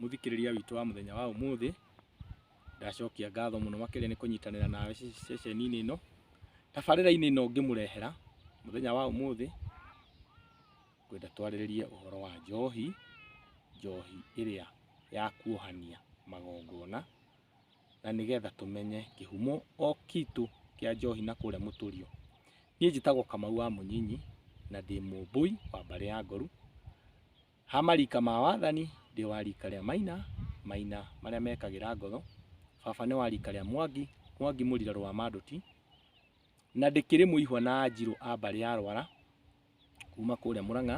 Mũthikĩrĩria witũ wa mũthenya wa ũmũthĩ, ndacokia ngatho mũno makĩria nĩ kũnyitanĩra nawe ceceni-inĩ ĩno, tabarĩra-inĩ ĩno ngĩmũrehera mũthenya wa ũmũthĩ, ngwenda twarĩrĩrie ũhoro wa njohi, njohi ĩrĩa ya kuohania magongona, na nĩgetha tũmenye kĩhumo o gitũ kĩa njohi na kũrĩa mũtũrĩo. Niĩ njĩtagwo Kamau wa Mũnyinyi, na ndĩ mũmbũi wa mbarĩ ya Ngoru, Ha marika ma wathani ndĩ wa rika rĩa Maina, Maina marĩa mekagĩra ngoro, baba nĩ wa rika rĩa Mwangi, Mwangi mũrira rũa Manduti, na ndĩkĩrĩ mũihwa na Anjirũ a mbarĩ ya Rwara kuma kũrĩa Mũrang'a,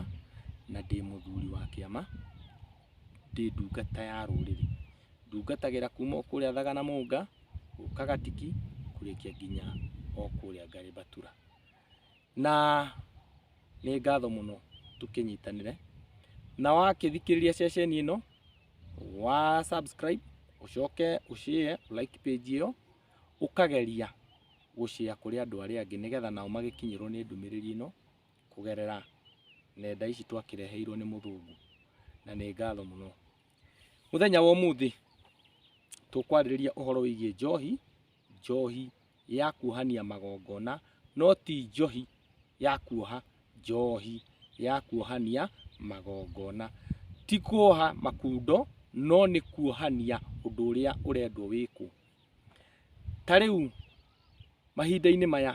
na ndĩ mũthuri wa kĩama, ndĩ ndungata ya rũrĩrĩ, ndungatagĩra kuma o kũrĩa Thaga na Mũnga, gũka Gatiki kũrĩkia nginya o kũrĩa Ngarĩ Mbatura. na nĩ ngatho mũno tũkĩnyitanĩre na wakĩthikĩrĩria ceceni ĩno wa subscribe ũcoke ũshare like page ĩyo ũkageria gũshare kũrĩ andũ arĩa angĩ nĩgetha nao magĩkinyĩrwo nĩ ndũmĩrĩri ĩno kũgerera nenda ici twakĩreheirwo nĩ mũthũngũ na nĩ ngatho mũno. Mũthenya wa ũmũthĩ tũkwarĩrĩria ũhoro wĩgiĩ njohi njohi ya kuohania magongona no ti njohi ya kuoha njohi ya kuohania magongona. Ti kuoha makundo no nĩ kuohania ũndũ ũrĩa ũrendwo wĩkwo. Ta rĩu mahinda-inĩ maya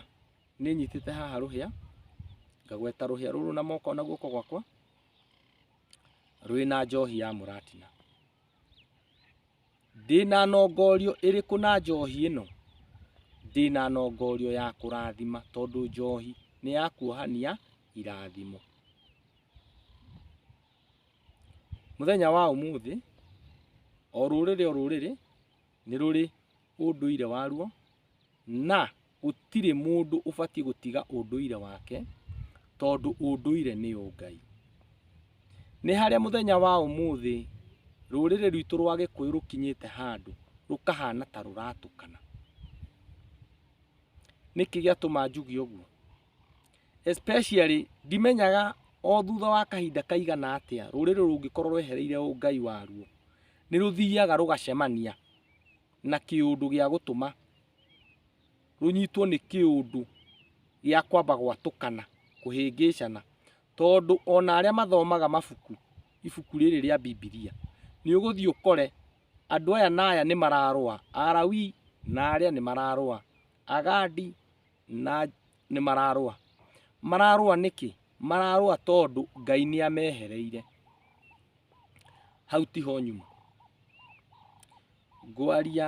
nĩ nyitĩte haha rũhĩa, ngagweta rũhĩa rũrũ na moko na guoko gwakwa rwĩna njohi ya mũratina. Ndĩna nongorio ĩrĩkũ na njohi ĩno? Ndĩna nongorio ya kũrathima tondũ njohi nĩ ya kuohania irathimo. Mũthenya wa ũmũthĩ, o rũrĩrĩ o rũrĩrĩ nĩ rũrĩ ũndũire waruo na Gũtirĩ mũndũ ũbatiĩ gũtiga ũndũire wake tondũ ũndũire nĩ ũngai. Nĩ harĩa mũthenya wa ũmũthĩ rũrĩrĩ rwitũ rwa gĩkũyũ rũkinyĩte handũ rũkahana ta rũratũkana. Nĩkĩ gĩatũma njuge ũguo? Especially ndimenyaga o thutha wa kahinda kaigana atĩa rũrĩrĩ rũngĩkorwo rwehereire ũngai waruo nĩ rũthiaga rũgacemania. na kĩũndũ gĩa gũtũma rũnyitwo nĩ kĩũndũ gĩa kwamba gwatũkana, kũhĩngĩcana. Tondũ ona arĩa mathomaga mabuku, ibuku rĩrĩ rĩa Bibilia, nĩ ũgũthiĩ ũkore andũ aya na aya nĩ mararũa, Alawii na arĩa nĩ mararũa, Agandi na nĩ mararũa. Mararũa nĩkĩ? Mararũa tondũ Ngai nĩ amehereire. hau tiho nyuma ngwaria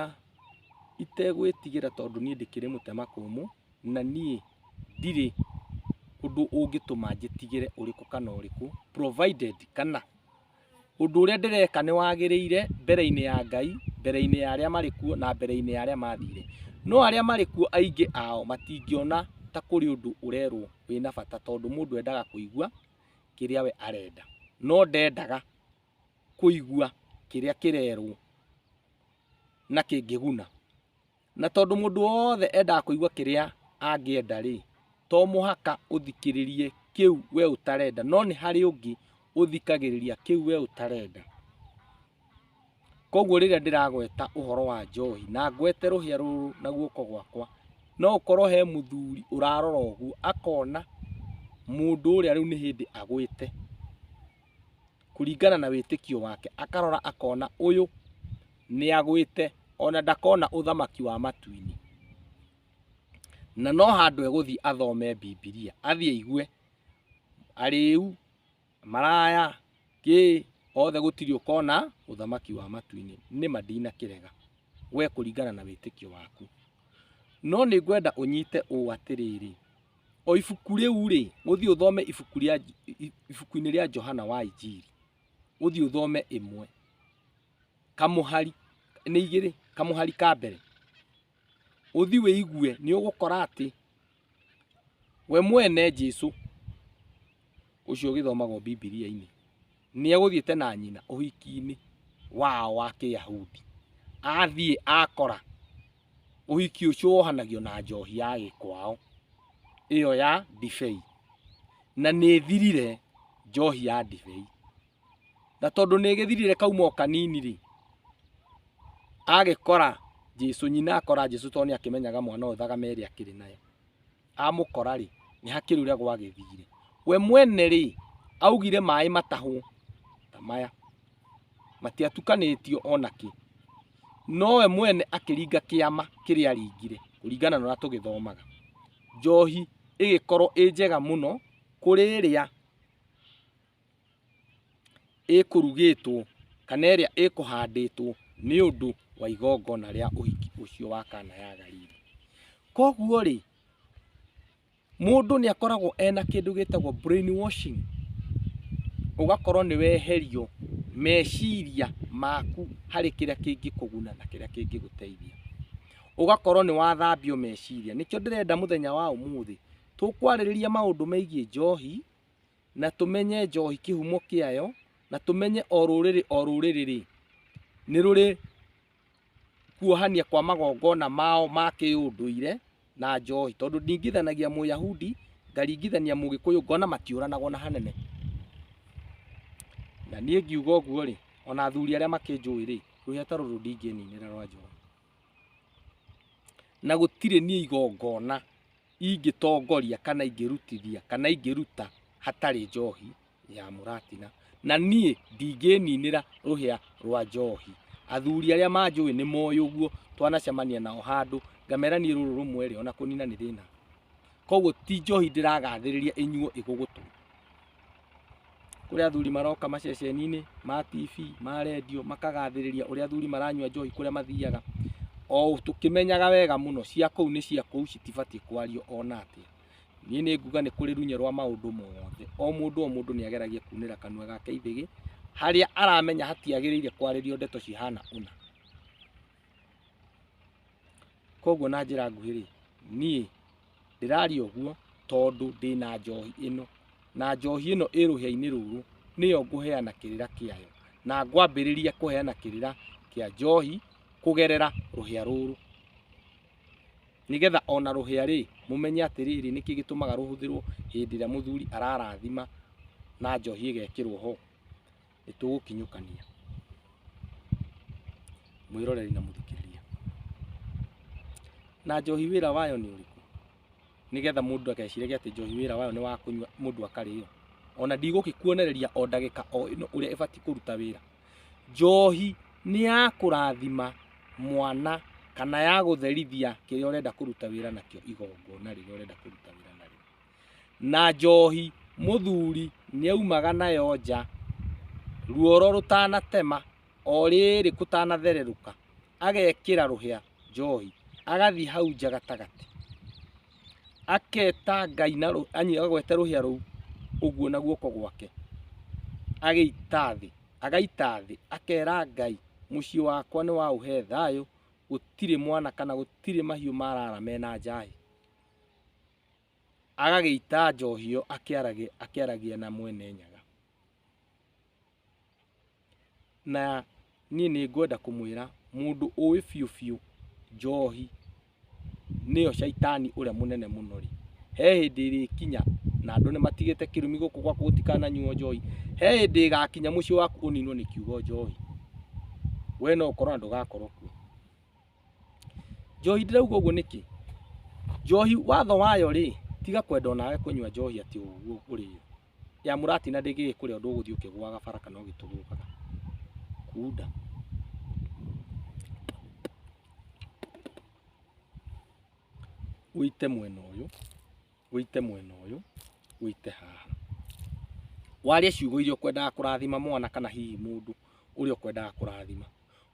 itegwĩtigĩra tondũ niĩ ndĩkĩrĩ mũtema kũmũ na niĩ ndirĩ ũndũ ũngĩtũma njĩtigĩre ũrĩkũ kana ũrĩkũ provided kana ũndũ ũrĩa ndĩreka nĩ wagĩrĩire mbere-inĩ ya Ngai, mbere-inĩ ya arĩa marĩ kuo na mbere-inĩ ya arĩa mathire. No arĩa marĩ kuo aingĩ ao matingĩona ta kũrĩ ũndũ ũrerwo wĩna bata tondũ mũndũ endaga kũigua. kĩrĩa we arenda no ndendaga kũigua kĩrĩa kĩrerwo na kĩngĩguna na tondũ mũndũ wothe endaga kũigua kĩrĩa angĩenda rĩ to mũhaka ũthikĩrĩrie kĩu we ũtarenda no nĩ harĩ ũngĩ ũthikagĩrĩria kĩu we ũtarenda Koguo rĩrĩa ndĩragweta ũhoro wa njohi na ngwete rũhĩa rũrũ na guoko gwakwa, no ũkorwo he mũthuri ũrarora ũguo akona mũndũ ũrĩa rĩu nĩ hĩndĩ agwĩte kũringana na wĩtĩkio wake, akarora akona ũyũ nĩ agwĩte ona ndakona ũthamaki wa matu-inĩ. Na no handũ egũthiĩ athome Bibilia, athiĩ aigue arĩu maraya kĩ othe gũtirĩ ũkona ũthamaki wa matu-inĩ nĩma ndinakĩrega we kũringana na wĩtĩkio waku no nĩ ngwenda ũnyite ũũ atĩrĩrĩ o ibuku rĩu rĩ ũthiĩ ũthome ibuku rĩa ibuku-inĩ rĩa Johana wa Injiri ũthiĩ ũthome ĩmwe kamũhari nĩ igĩrĩ kamũhari ka mbere ũthi wĩigue nĩ ũgũkora atĩ we mwene Jesu ũcio ũgĩthomagwo Bibilia-inĩ nĩ egũthiĩte na nyina ũhiki-inĩ wao wa Kĩyahudi. Athiĩ akora ũhiki ũcio wohanagio na njohi ya gĩkwao ĩyo ya ndibei, na nĩ ĩthirire njohi ya ndibei. na tondũ nĩ gĩthirire kauma o kanini rĩ agĩkora Jesu nyina akora Jesu tondũ nĩ akĩmenyaga mwana ũyũ thagame ĩrĩa akĩrĩ nayo amũkora rĩ nĩ hakĩrĩ ũrĩa gwagĩthire we mwene rĩ augire maĩ matahwo ta maya matiatukanĩtio ona kĩ no we mwene akĩringa kĩama kĩrĩa aringire kũringana na ũrĩa tũgĩthomaga njohi ĩgĩkorwo ĩ njega mũno kũrĩ ĩrĩa ĩkũrugĩtwo kana ĩrĩa ĩkũhandĩtwo nĩ ũndũ wa igongona rĩa ũhiki ũcio wa kana ya Galili. Koguo rĩ, mũndũ nĩ akoragwo ena kĩndũ gĩtagwo brain washing, ũgakorwo nĩ weherio meciria maku harĩ kĩrĩa kĩngĩkũguna na kĩrĩa kĩngĩgũteithia. Ũgakorwo nĩ wathambio meciria. Nĩkĩo ndĩrenda mũthenya wa ũmũthĩ tũkwarĩrĩria maũndũ megiĩ njohi, na tũmenye njohi kĩhumo kĩayo na tũmenye o rũrĩrĩ o rũrĩrĩ rĩ nĩ rũrĩ kuohania kwa magongona mao ma kĩũndũire na njohi tondũ ndingithanagia mũyahudi ngaringithania mũgĩkũyũ ngona matiũranagwo na hanene na niĩ ngiuga ũguo rĩ ona athuri arĩa makĩnjũĩ rĩ rũhĩa ta rũrũ ndingĩninĩra rwa njohi na gũtirĩ niĩ igongona ingĩtongoria kana ingĩrutithia kana ingĩruta hatarĩ njohi ya mũratina na niĩ ndingĩninĩra rũhĩa rwa njohi athuri arĩa manjũĩ nĩ moĩ ũguo twanacemania nao handũ ngamera niĩ rũrũ rũmwe rĩ ona kũnina nĩ thĩna koguo ti njohi ndĩragathĩrĩria ĩnyuo ĩgũgũtũ kũrĩa athuri maroka maceceni-inĩ ma TV ma redio makagathĩrĩria ũrĩa athuri maranyua njohi kũrĩa mathiaga o tũkĩmenyaga wega mũno cia kũu nĩ cia kũu citibatiĩ kwario ona atĩa niĩ nĩ nguga nĩ kũrĩ runye rwa maũndũ mothe o mũndũ o mũndũ nĩ ageragia kunĩra kanua gake ithĩgĩ harĩa aramenya hatiagĩrĩire kwarĩrio ndeto cihana ũna Koguo na njĩra nguhĩ rĩ, niĩ ndĩraria ũguo tondũ ndĩna njohi ĩno, na njohi ĩno ĩ rũhĩa-inĩ rũrũ, nĩyo ngũheana kĩrĩra kĩayo, na ngwambĩrĩria kũheana kĩrĩra kĩa njohi kũgerera rũhĩa rũrũ, nĩgetha ona rũhĩa rĩ, mũmenye atĩrĩrĩ, nĩkĩ gĩtũmaga rũhũthĩrwo hĩndĩ ĩrĩa mũthuri ararathima na njohi ĩgekĩrwo ho. nĩ tũgũkinyũkania mwĩroreri na mũthikĩrĩria na njohi wĩra wayo nĩ ũrĩkũ nĩgetha mũndũ ageciragia atĩ njohi wĩra wayo nĩ wa kũnyua mũndũ akarĩo ona ndigũgĩkuonereria o ndagĩka o ĩno ũrĩa ĩbatiĩ kũruta wĩra njohi nĩ ya kũrathima mwana kana ya gũtherithia kĩrĩa ũrenda kũruta wĩra nakĩo igongona rĩrĩa ũrenda kũruta wĩra narĩo na njohi mũthuri nĩaumaga nayo nja ruoro rũtanatema o rĩrĩ kũtanathererũka agekĩra rũhĩa njohi agathiĩ hau nja gatagatĩ aketa Ngai na rũ- yaani agwete rũhĩa rũu ũguo na guoko gwake agĩita thĩ agaita thĩ akera Ngai mũciĩ wakwa nĩ waũhe thayũ gũtirĩ mwana kana gũtirĩ mahiũ marara mena njahi. agagĩita njohi ĩyo akĩaragia, akĩaragia na mwene nyaga na niĩ nĩ ngwenda kũmwĩra mũndũ ũĩ biũ biũ njohi nĩyo caitani ũrĩa mũnene mũno rĩ, he hĩndĩ ĩrĩkinya na andũ nĩ matigĩte kĩrumi gũkũ gwaku gũtikananyuo njohi, he hĩndĩ ĩgakinya mũciĩ waku ũninwo nĩ kiugo njohi, we no ũkorwo na ndũgakorwo kuo. Njohi ndĩrauga ũguo nĩkĩ? Njohi watho wayo rĩ, tiga kwenda onawe kũnyua njohi atĩ ũguo ũrĩ yo. Ya mũrati na ndĩngĩgĩkũrĩa ũndũ ũgũthiĩ ũkĩgũaga bara kana ũgĩtũgũtaga. Kunda. Ũite mwena ũyũ, ũite mwena ũyũ, ũite haha. Waria ciugo iria ũkwendaga kũrathima mwana kana hihi mũndũ ũrĩa ũkwendaga kũrathima.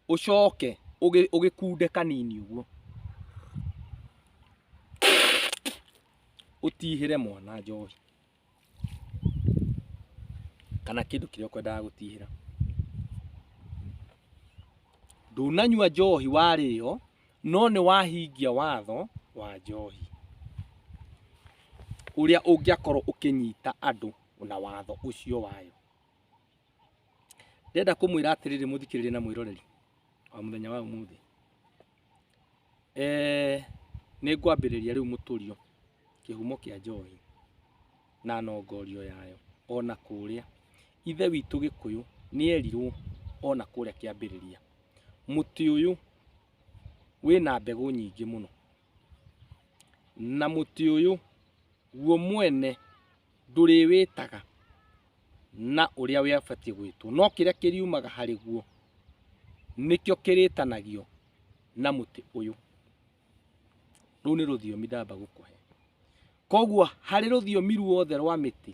ũcoke ũgĩ- ũgĩkunde kanini ũguo ũtihĩre mwana njohi kana kĩndũ kĩrĩa ũkwendaga gũtihĩra ndũnanyua njohi warĩo no nĩ wahingia watho wa njohi ũrĩa ũngĩakorwo ũkĩnyita andũ na watho ũcio wayo Ndĩrenda kũmwĩra atĩrĩrĩ mũthikĩrĩria na mwĩroreri wa mũthenya wa ũmũthĩ. Eh, nĩ ngwambĩrĩria rĩu mũtũrio kĩhumo kĩa njohi na nongorio yayo ona kũrĩa. Ithe witũ Gĩkũyũ nĩ erirwo ona kũrĩa kĩambĩrĩria, mũtĩ ũyũ wĩna mbegũ nyingĩ mũno, na mũtĩ ũyũ guo mwene ndũrĩwĩtaga na ũrĩa wĩabatiĩ gwĩtwo no kĩrĩa kĩriumaga harĩ guo nĩkĩo kĩrĩtanagio na mũtĩ ũyũ rũu nĩ rũthiomi ndamba gũkũhe koguo harĩ rũthiomi ruothe rwa mĩtĩ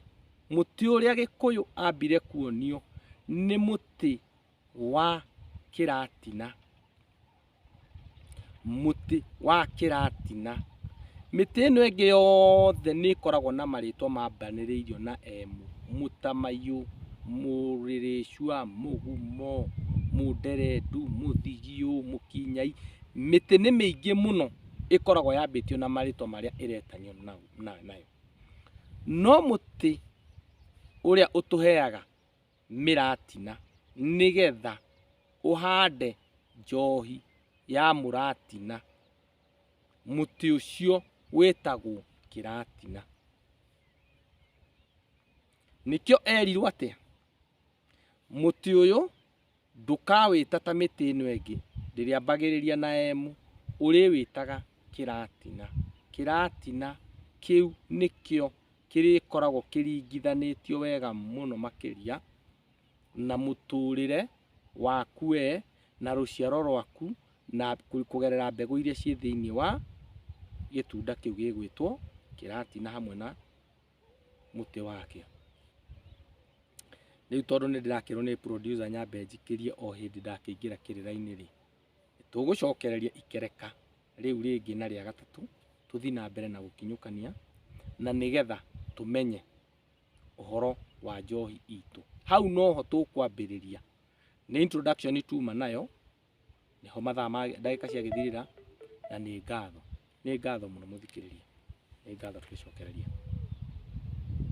mũtĩ ũrĩa gĩkũyũ ambire kuonio nĩ mũtĩ wa kĩratina, mũtĩ wa kĩratina. Mĩtĩ ĩno ĩngĩ yothe nĩ ĩkoragwo na marĩtwa mambanĩrĩirio na M, mũtamaiyũ, mũrĩrĩcua, mũgumo, mũnderendu, mũthigiũ, mũkinyai. Mĩtĩ nĩ mĩingĩ mũno ĩkoragwo yambĩtio na marĩtwa marĩa ĩretanio nayo. No mũtĩ ũrĩa ũtũheaga mĩratina nĩgetha ũhande njohi ya mũratina, mũtĩ ũcio wĩtagwo kĩratina. Nĩkĩo erirwo atĩa? Mũtĩ ũyũ Ndũkawĩta ta mĩtĩ ĩno ĩngĩ, ndĩrĩambagĩrĩria na emu, ũrĩwĩtaga kĩratina. Kĩratina kĩu nĩkĩo kĩrĩkoragwo kĩringithanĩtio wega mũno makĩria na mũtũrĩre waku we na rũciaro rwaku na kũgerera mbegũ iria ciĩ thĩiniĩ wa gĩtunda kĩu gĩgwĩtwo kĩratina hamwe na. mũtĩ wakĩo. Rĩu tondũ nĩ ndĩrakĩrwo nĩ producer nyambe njikĩrie o hĩndĩ ndakĩingĩra kĩrĩra-inĩ rĩ, tũgũcokereria ikereka rĩu rĩngĩ na rĩa gatatũ tũthiĩ na mbere na gũkinyũkania na nĩgetha tũmenye ũhoro wa njohi itũ. Hau noho tũkwambĩrĩria. Nĩ introduction tuma nayo nĩho mathaa ma ndagĩka ciagĩthirĩra na nĩ ngatho, nĩ ngatho mũno mũthikĩrĩria, nĩ ngatho tũgĩcokereria.